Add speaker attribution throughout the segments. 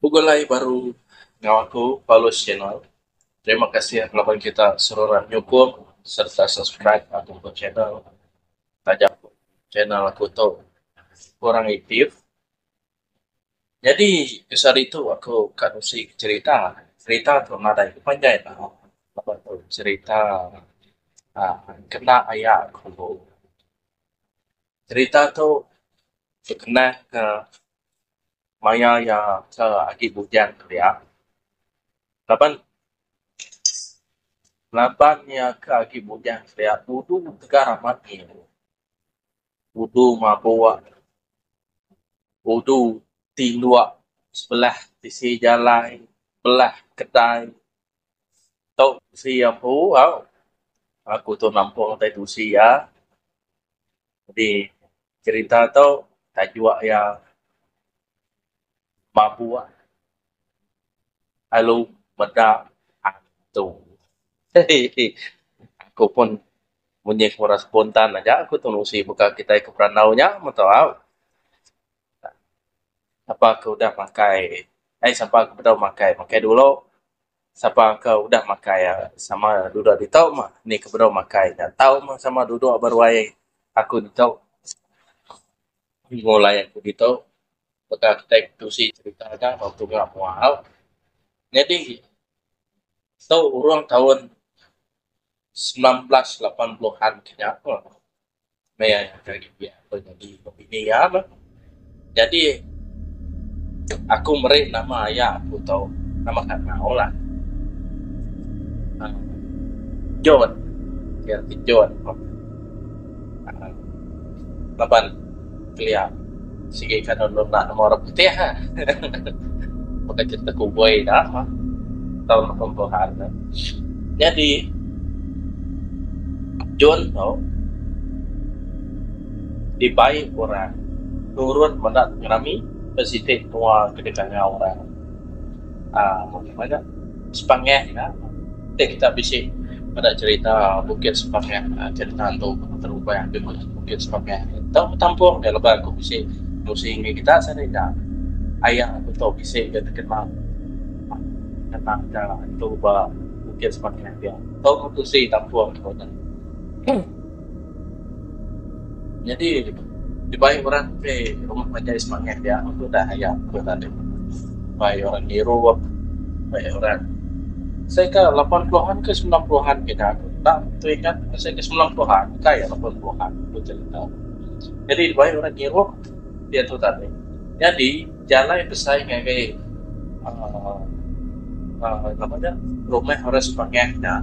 Speaker 1: Begulai baru enggau aku Paulus channel. Terima kasih laban kita seruran nyukung sereta subscribe aku ba channel taja pun channel aku tu kurang aktif. Nyadi kesa ditu aku ka nusi cherita. Cherita tu nadai ke panjai lah laban tu cherita uhh kena aya aku. Cherita tu bekenang ka maya iya ke agi bujang tu dia laban laban iya ke agi bujang tu dia udu tega amat iya udu mabuk udu ti lok sebelah bisi jalai belah kedai Tok besi ampu au aku tu nampung tai tusi iya jadi cerita tu tajuk iya mabuk lalu meda hantu hehe aku pun munyi ku orang spontan aja aku tu nusi baka kitai ke berandau nya meto au. Sapa ke udah makai, ai sapa ke bedau makai, makai dulu. Sapa ke udah makai sama dudok ditu mah. Nih ke bedau makai nya tau mah sama dudok ba ruai aku ditu. Nyengulai aku ditu peka kitai ke tusi serita da ba tunga mua au. Nyadi tu urang taun semilan belas lapan puluhan ke nya. Meh aku agi pia aku nyadi bini iya bah. Jadi aku meri nama aya aku tu nama Kanau lah. Aaa John. Iya ti John. Aaa laban. Kelia. Sigi ka anu enda nemu orang putih ah. Baka cerita kuboi da mah tau nemu Tuhan ne. Nyadi John tu dibai orang nurun meda pengerami ke siti tua ke dikangau orang. Meda sepangah nya ti kita bisi meda cerita bukit sepangah cerita hantu terubah ti meh bukit sepangah tau betampung nya laban aku bisi nusi ngi kita sani da aya ku tau bisi da tekena ngena ka hantu ba bukit sepangah dia tau ku tusi tampung ku nya. Nyadi dibai orang ti rumah majai semangat dia udah aya ku tadi dibai orang ngirup dibai orang seh ka lapan puluhan ke semilan puluhan ke nya enda tu ingat seh ke semilan puluhan ka iya lapan puluhan ku cerita. Jadi dibai orang ngirup diatu tadi nyadi. Jalai besai ngagai rumah orang sepangah nya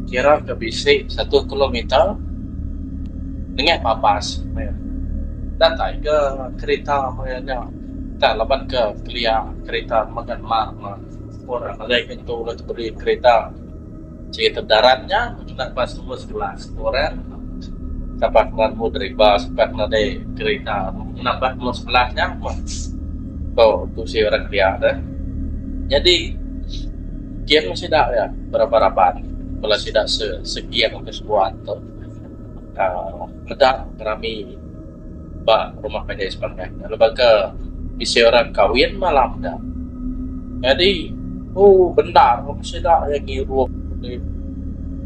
Speaker 1: kira ke bisi satu kilometer nengah ba bas meh. Datai ke kereta meh nya tang laban ke kelia kereta megan mak ne pun ra ngelih nyentuk lalu tebeli kereta. Cerita darat nya bejuna ba semua sekula, semua orang sapa ke lalu deriba, sapa ke nadai kerita nambah ke mung sebelah nya meh ko tusi orang kelia da. Nyadi geng sida iya beraba-raban bala sida se segeng ke sebuan tu. uhh meda rami ba rumah panjai sepanjai ne laban ke bisi orang kahwin malam ne nyadi uhh bendar meh sida iya ngirup deh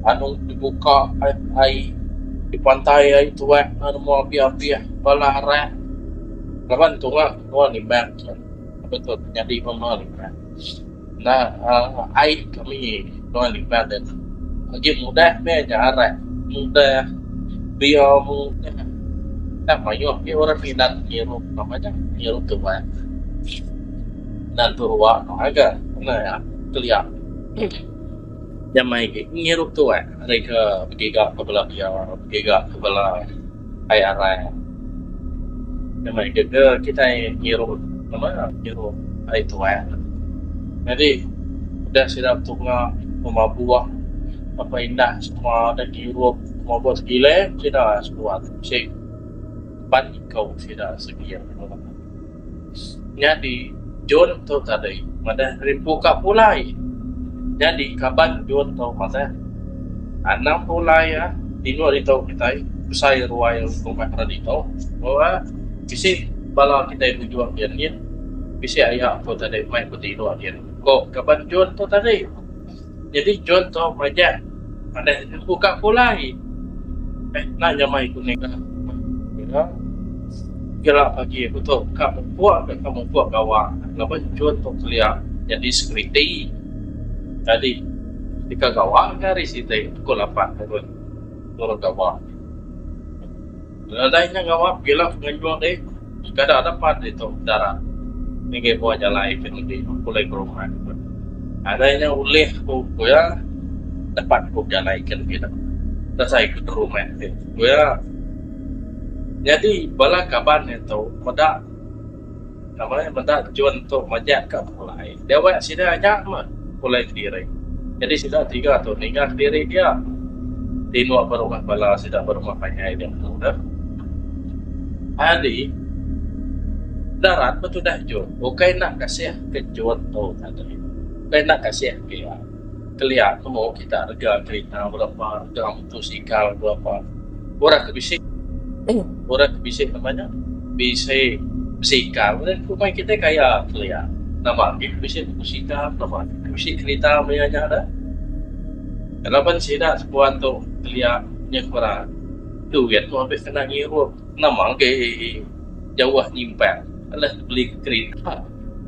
Speaker 1: anung ti buka ai ti pantai ai tuek ne nemu abih abih bala arang laban tuak nua nimbang chen laban tu nyadi meh meh nimbang. Enda ai kami tuai lipat deh. Agi mudah meh nyarat, mudah bio mudah. Enda mayuh agi orang minat ngirup nama nya ngirup tuai. Enda tentu ruwa tu ngaga. Nya kelia. Nya meh agi, ngirup tuai ari ke begiga ke bela dia, begiga ke bela ai arai. Nya meh agi ke kitai ngirup nama ngirup ai tuai. Nyadi udah sida betunga buk mabuh apai indah semua deh ngirup semua buk sebilik sida sebuah bisi pan iku sida segi. Nyadi John tu tadi madah Rimpu ka pulai. Nyadi kaban John tu madah anang pulai iya indu ditu kitai besai ruai rumah rak ditu ba bisi bala kitai bujung dia nyin bisi aya ko tadi mai ko ti indu dia ko kaban John tu tadi. Nyadi chunto majak padah empu ka pulai enda nyamai ku nega mega gila pagi aku tu ka mupuk ka ka mupuk gawa laban chunto kelia nyadi sekuriti tadi deka gawa ke hari siti pukul lapan nurun gawa. Nadai nya ngawa pila penganjung dih sekadar dapat ditu darat ngagai bua jalai ke nembi pulai berubat. Nadai nya ulih ku ku iya dapat ku jalai ke nembi dapat dasai ke berubat ti ku iya. Nyadi bala kaban ditu meda. Nama iya meda John tu majak ka pulai. Dewek sida nya meh pulai Kediri. Nyadi sida tiga tu ninga Kediri dia. Tino ba rumah bala sida ba rumah panjai dia menu deh. Ari darat betudah John. Ukai enda kasih ke John tu tadi. Ukai enda kasih ke iya. Kelia temu kita rega kerita berapa rega mutosikal berapa orang ke bisi orang ke bisi nama nya bisi besikal nya ku meh kitai kaya kelia nama agi ke bisi mutosikal nama agi ke bisi kerita maya nya dah laban sida sebuah tu kelia nyengkura duit tu abih kena ngirup nama agi jauh nyimpang alah beli kerita.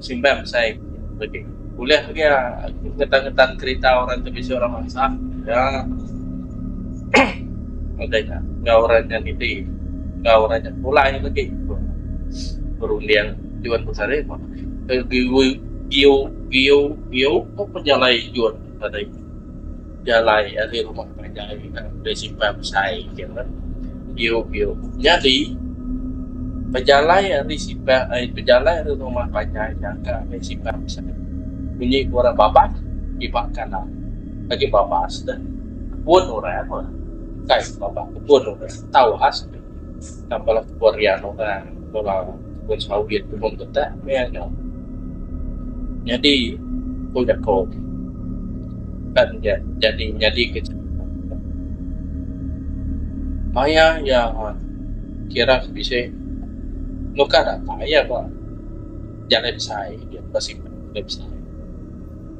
Speaker 1: Simbang besai pedi. Ulih pia aku ngetan-ngetan kerita orang ke bisi orang mansah nya ngagai nya enggau orang nya niti enggau orang nya pulai legi ku Berunding Juan Besari meh ke giu giu giu giu ko pejalai Juan tadi. Jalai ari rumah panjai Principal besai gin meh biu biu nyadi pejalai ari sipar ai pejalai ari rumah panjai nyangka meh sipar besai munyi ku orang babas kiba kanan agi babas deh kebun orang meh kai babas kebun orang tau has deh tang bala kebun rian orang bala Tebung sawit, tebung petak meh anu nyadi ku jaku kan jadi nyadi ke maya iya kira ke bisi nukar apai iya ba jalai besai jalai besai.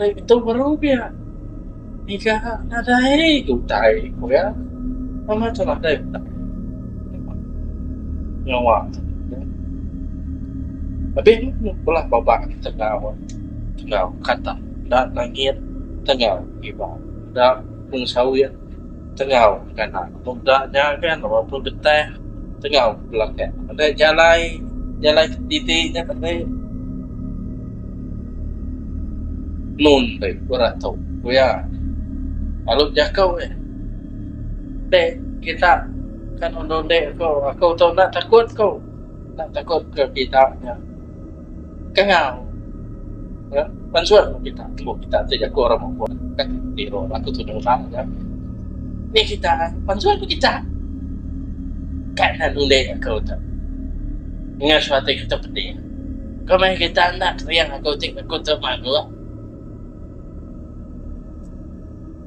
Speaker 1: Ari metu baru pia ngiga nadai ke utai ku iya mama tu nadai utai nyawa abih bala baba nya tangau tangau katak enda langit tangau iban enda mung sawi tangau nganak. Meda nya kan lebuh pun betah tengau belaka enda jalai jalai titi nya tah deh nun deh ku rak tu ku iya lalu bejako iya deh kita kan undon deh ko aku tu enda takut ko enda takut ko kita nya. Kangau. Ya, pansuan mu kita. Mu kita ti jaku orang mupun. Kan di ro aku tu dah ulang ya. Ni kita pansuan mu kita. Kan nak nuli aku tu. Ingat suatu kita pedih. Kau main kita nak riang aku ti aku tu malu.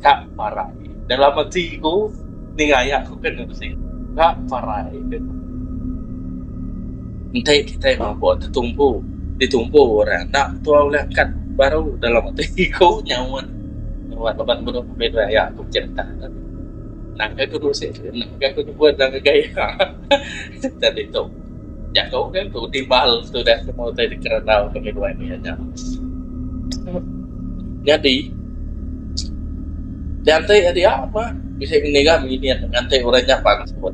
Speaker 1: ka parai. Dalam ati ku ninga iya ku ke ngeresik ka parai ke tu. Enti kitai mabuk tetumpu ditumpu orang enda tua ulih angkat baru dalam ati ku nyaut nyaut laban menu pemit wan iya ku mejit atak tu. Nangka ku nusik nangka ku nyebut nang ngagai iya. Ita ditu. Jaku ke tu timbal tudah semua utai dikerandau ke midway ni aja. Nyadi dianti iya dia mah bisi ngiga nginyit nganti orang nya pan sebut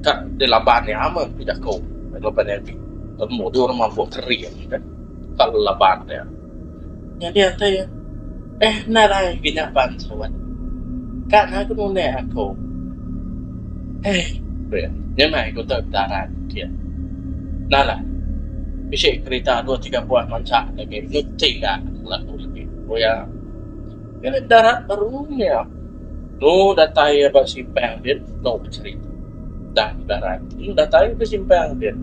Speaker 1: ka dilaban iya mah ku jaku laban iya ti temu dulu mampu kering ka laban iya. Nyadi ati deh nadai agi nyaban sawan ka ngagun unek aku eh beh nyamai ku tu daran ke nalan bisi kerita dua tiga buah mansa agi ngencing ka laku agi ku iya ngena darat baru nya tu datai iya ba simpang aja tau becerita. Udah Ibarat. Udah tayu besimpang din.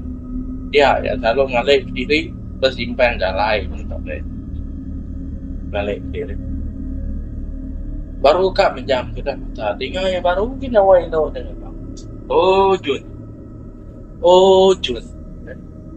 Speaker 1: Dia iya selalu ngalih kediri besimpang jalai mengtok deh. Ngalih kediri. Baru ka mejam ke dah mata dinga iya baru gin nyawa indu deh. Oh Jun. Oh Jun.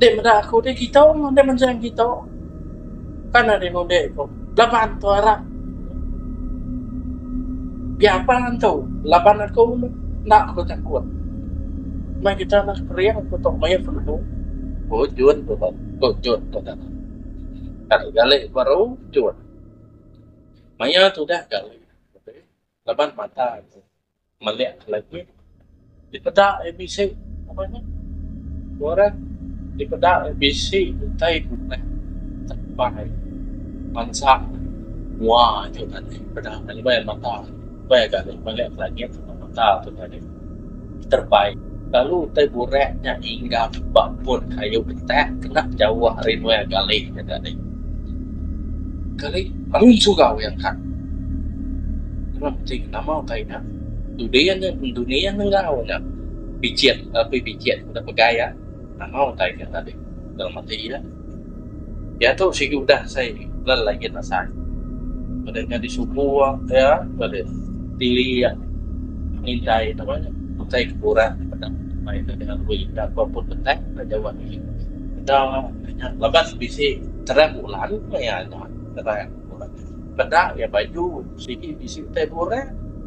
Speaker 1: Deh meda aku deh gitu deh menjam gitu pan ari ngundi ku laban tu arap biapa antu laban aku enda ku takut meh kita anak kering ku tu mayuh penemu ku Jun tu bah ku Jun tu dah kali kali baru Jun mayuh tudah kali laban mata. Melek legi dipeda ABC ngagai nya. Orang dipeda ABC utai buleh tepai bansa mua aju ngagai peda ngagai mata. Mata agi mata terbaik. Lalu utai burak nya inggap ba pun kayu pentak kena jauh ari nuai Galih nya tadi. Galih bangun suga uih angkat. Nengah meti nama utai nya, Dudin nya Dudin enggau nya Bijit, Bijit udah pegai iya nama utai nya tadi dalam ati iya. Diatu sigi udah sai lal lagi nasai. Meda nya disubu iya ba deh tili iya ngintai tu mah utai ke kurang meda mai ke dengan rue enda pa pun betah enda jauh agi. Enda nya laban bisi terang bulan maya nya terang bulan. Peda iya baju sigi bisi utai buran.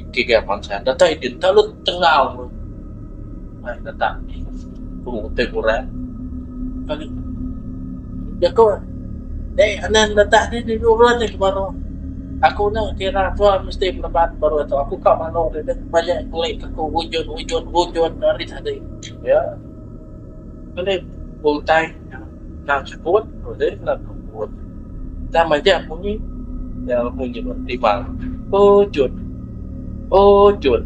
Speaker 1: Iti ga bansa enda tau iti enda lu tengau ai tetap pemung utai buran kali jaku deh anan da tah deh deh buran deh baru aku nya kira tua mesti meleban baru tu aku ka manau deh deh bayak ngeli ka ku ujun ujun ujun ari tadi ya ngeli utai. Tang sebut ulih nang kebut. Tang majak bunyi nyau munyi ba timang. Ujun. Ujun.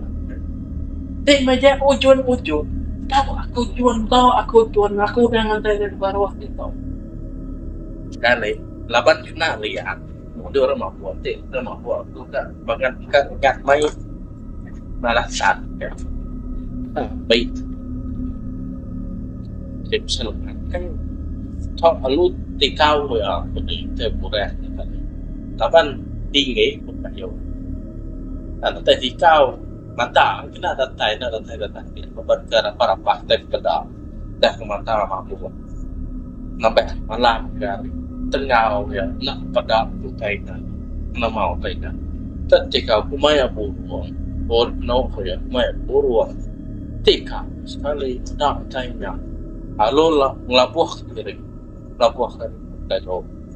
Speaker 1: Ti majak ujun ujun. Tau aku jun tau aku jun aku udah ngantai nya baruh ti tau. Sekali laban kena liat mundur mabuk ti enda mabuk tu ka. Bangat ka nengah mai bala sat ka. Abei tu. Ke pasal makai tok alu ti tau iya pegi te murah nya tadi. Laban tinggi pun kayo. Enda datai dikau mata kena datai enda datai datai laban ke rapah-rapah tai pekeda. Dah ke mata mabuk nambah malam ga tengau ia enda peda ku taiga kena mau taiga tek ti ka ku maya burung un penu ku ia maya burung ti ka sekali enda taiga lalu labuh ke diri labuh ke diri.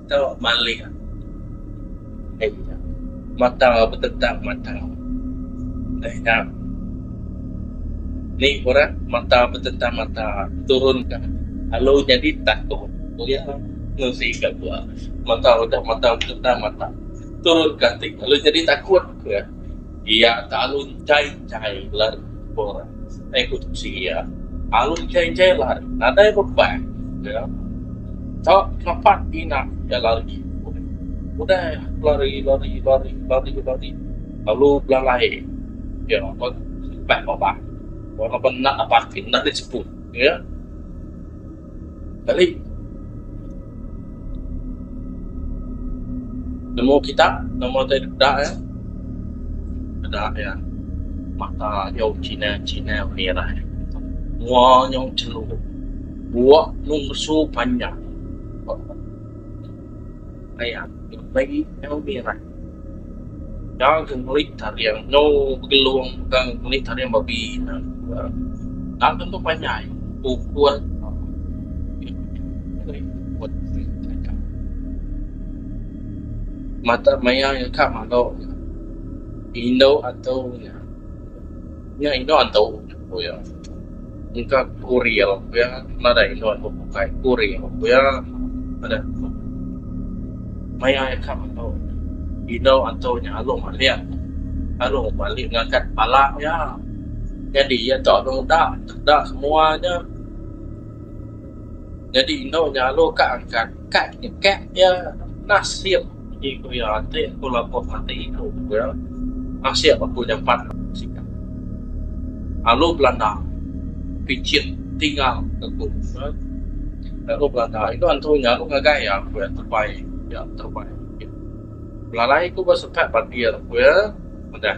Speaker 1: Mata malik deh nya. Mata betetak mata deh nya. Ni orang mata betetak mata turun ka alu nyadi takut pulih ngerusi ka bua. Mata udah mata betetak mata turun ka ati alu nyadi takut ke iya tak alu enchai enchai bala orang. Setai ku tusi iya, lalu enjai-enjai lari. Nadai beban iya ka nempat tina iya lari. Udah iya lari, lari, lari, lari, lari lalu belalai iya ba tempat babah. Wang enda enda parking, enda di seput iya. Kali nemu kita nama ti deka iya eda iya mata nyau chinel chinel ngirai mua nyau chelu buak mung ngesu panjang aii ngirai. Nya ke ngeli taring enggau begelung ke ngeli taring babi ina enda tentu panjai ukun mata maya iya ka malu indu antu nya nya indu antu. ku iya. Engka ku real ku iya nadai endur aku bukai ku real ku iya adat aku. Maya iya ka metu indu antu nya Along Alik. Along Alik ngakat bala iya nyadi iya tu Along Da. Da semua nya. Nyadi indu nya Along ka angkat. Ka nyekak iya nasib agi ku iya ti aku labuh mati iku iya nasib aku nyampat sikap alu belanda pichin tinggal aku alu belanda inu antu nya alu ngagai iya ku iya tebai iya tebai belalai ku ba sukat pabir ku iya madah.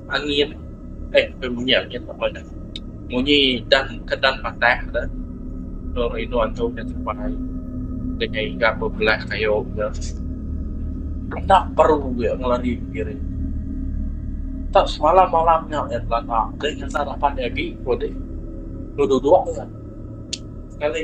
Speaker 1: Angin eh peh munyi angin ba meh dah. Munyi dan kedan patah dah. Tau rindu antu nya tupai dengan iga bebelah kayu nya. Enda peru iya ngelari ke kiri. Tau semalam malam nya iya belanda deh ngena raban nya agi ku deh. Dua dua iya. Sekali.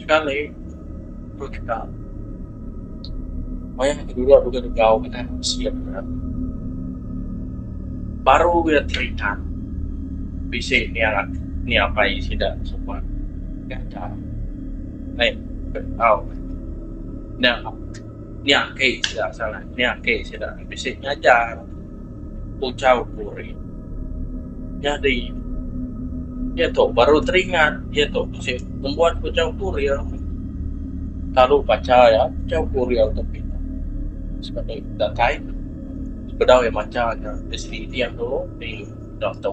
Speaker 1: Sekali, ku Teka, wayah ke dulu aku begau ngenang bisi iya meret, baru iya teringat bisi ni anak ni apai sida suba ngaga ai au nya nya ake sida asal nya ake sida bisi ngajar. ujar Puring. Nyadi, iya tu baru teringat iya tu bisi nembuan ke ujar Puring. Lalu bacha iya ujar Puring tu pia. Sekeda datai bedau iya macha nya bisi iting dulu, pi dau tu.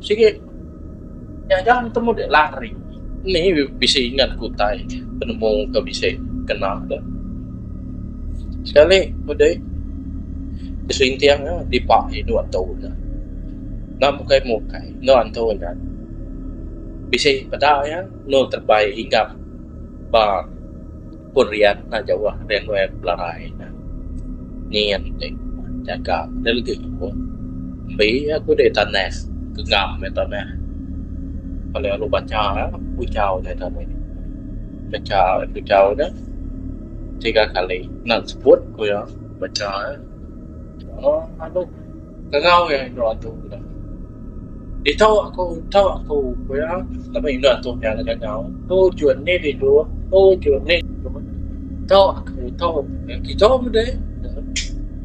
Speaker 1: Sigi nya ga nemu dek lari. Ni bisi ingat ku utai penemu ke bisi kena de. Sekali udah ih beselinting eh dipa inu antu ne. Enda mukai mukai enu antu nya bisi peda iya enu terebai hinggap ba Pun rian enda jauh ari alui aku belarai nya. Nyin ti jaga deh legi aku. Embi aku deh tanah genggam meh tanah. Bala alu banca puchau nya ita meh. Banca puchau nya tiga kali enda sebut ku iya banca. Aduh. Ngau iya indu antu ku dah. Ditu aku ento aku ku iya laban indu antu nya ngagai ngau. Tu jun nih dih tu tu jun nih dih tu. Ento aku ento kijo meh deh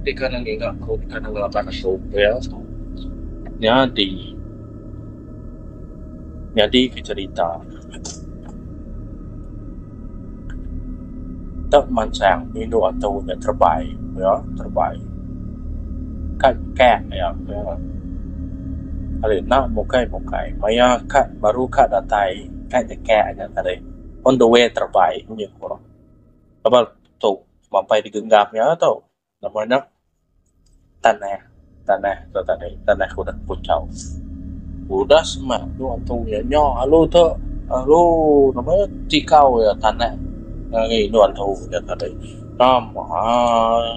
Speaker 1: dikah ne nginga aku dikah ne ngelaban aku ku iya. Nyadi nyadi ke cerita. Enda mansang indu atu nya terebai pia terebai kad kad nya pia kali enda mukai mukai maya kad baru kad datai kad nya kek nya tadi on the way terebai nya ku laban tu mapai digenggam nya tu. Nama nya tanah tanah tu tadi tanah kudak kuchau udah semak tu antung iya nya alu tu alu nama nya tikau iya tanah ngagai inu antu nya tadi tama aaa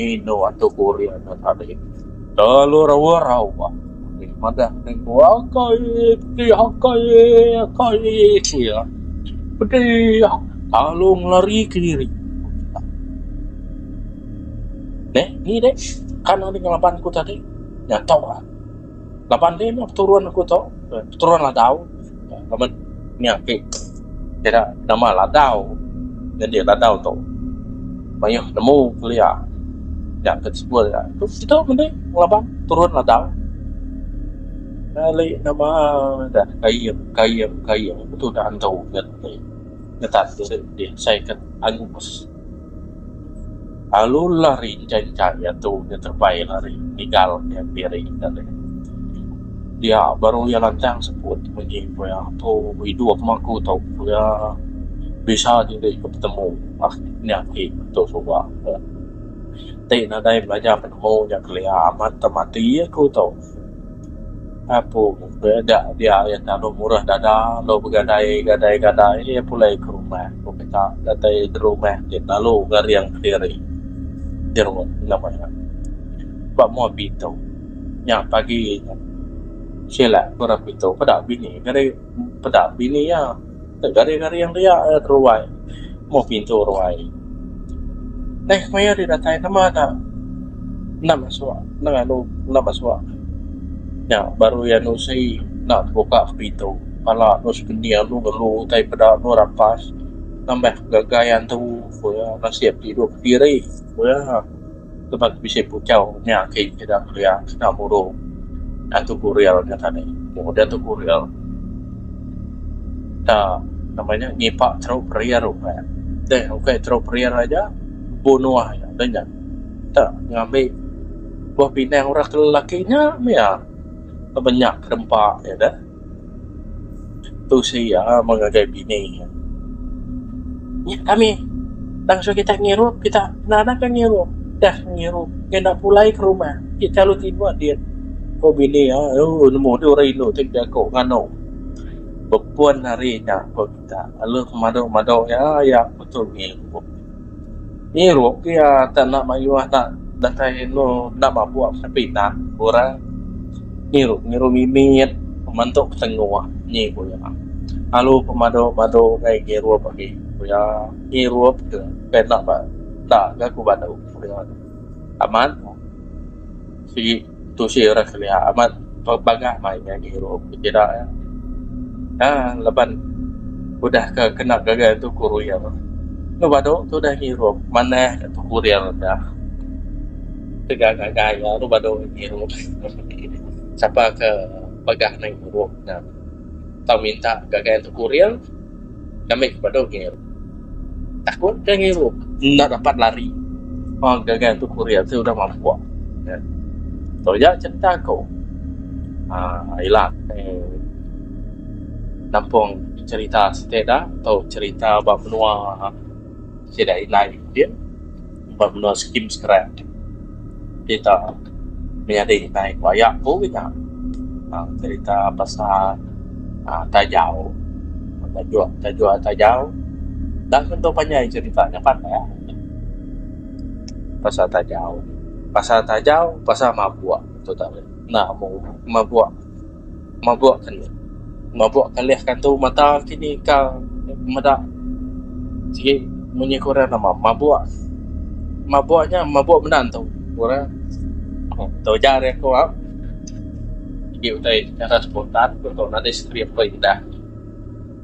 Speaker 1: inu antu kurin nya tadi. Lalu rawa rawa ulih madah nengku akai ti akai akai sia pedih lalu ngelari ke diri ku kitai. Dek ni dek kan ari ngelaban ku tadi nya tok ah laban deh meh peturun aku tok peturun ladau. Amat nya ake kira nama ladau nyadi ladau tu mayuh nemu kelia nya ke sekul nya. Tu situ mende ngelaban turun ladau nyadi nama da kaing kaing kaing tu da andu ngetan diri deh asai ke angus. Alu lari engka engka iya tu udah terebai lari nigal iya piri tadi dia baru iya lantang sebut munyi pia tu idup aku meh tau pia bisa diri ku betemu nya agi tu suba ti nadai belajar penemu nya kelia amat tau mati aku tau. Aku ke da diau iya tau murah dada dau begadai gadai gadai iya pulai ke rumah ku mita datai ke rumah ti lalu ngereang kediri jerut ngaban ne ba mua pitu nya pagi nya sila ku ra pitu peda bini geri peda bini iya. Garing-garing ria nya ruai meh pintu ruai. Neh ku iya deh datai namba enda enda masuk enda ngalu enda masuk nya baru iya nusi enda tebuka ke pintu pala anu sekening anu ngelu utai peda anu rampas nambah ngagai antu ku iya nasib ti duduk kediri ku iya. Lebuh tu bisi puchau nya agi sida kelia kena muru Datu Guril nya tadi. Muru Datu Guril da nama nya ngipak teruk perir ukai. Deh ukai teruk perir aja bunuh iya deh nya. Enta ngambi buah pinang orang lelaki nya mih iya lebuh nya kedempa iya deh. Tu si iya meh ngagai bini iya. Nya kami tang suka kita ngirup kita kena anang ka ngirup dah ngirup ngin enda pulai ke rumah ti selalu timbut dih ku bini iya ooh nemu dih orang indu ti bejaku nganu bepun hari nya ku kita lalu madu madu iya iya betul ngirup. Ngirup ke iya tak enda mayuh enda datai inu enda mabuk ke pinang orang ngirup ngirup mimit keman tu ketengoh nyi ku iya lalu pemadu madu gai ngirup agi ku iya ngirup ke tai enda ba enda ga ku badu ku iya amat sigi. Tu si orang kelia amat pebagah mai nya dirup ti pida iya. Aa leban udah ke kena gaga tu kurir enda badu tu udah ngirup manah ka tu kurir da tega gaga iya enda badu ngirup sapa ke pegah neng irup nya tau minta gaga tu kurir. Kami ke padu ngirup. Takut ke ngirup. Enda dapat lari. Hang gaga tu kuri ati udah mampuk. Ya. Tu aja cerita aku. Ah, ila eh, nampung cerita siti da tau cerita ba menua sida indai din. ba menua skim scrap kita menyadi nai ku aya ku kita tang cerita pasal aaa tajau tajuk tajuk tajau enda tentu panjai cerita nya pan lah pasal tajau pasal tajau pasal mabuk tu tau mabuk. Mabuk kelih. Mabuk kelih kantu mata kini ka meda sigi munyi ke orang nama mabuk. Mabuk nya mabuk meda entu ku orang. Tu ujar ari aku au. Sigi utai chara spontan ku tau nadai script perindah.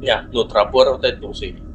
Speaker 1: Nya lu terabur utai tu sigi.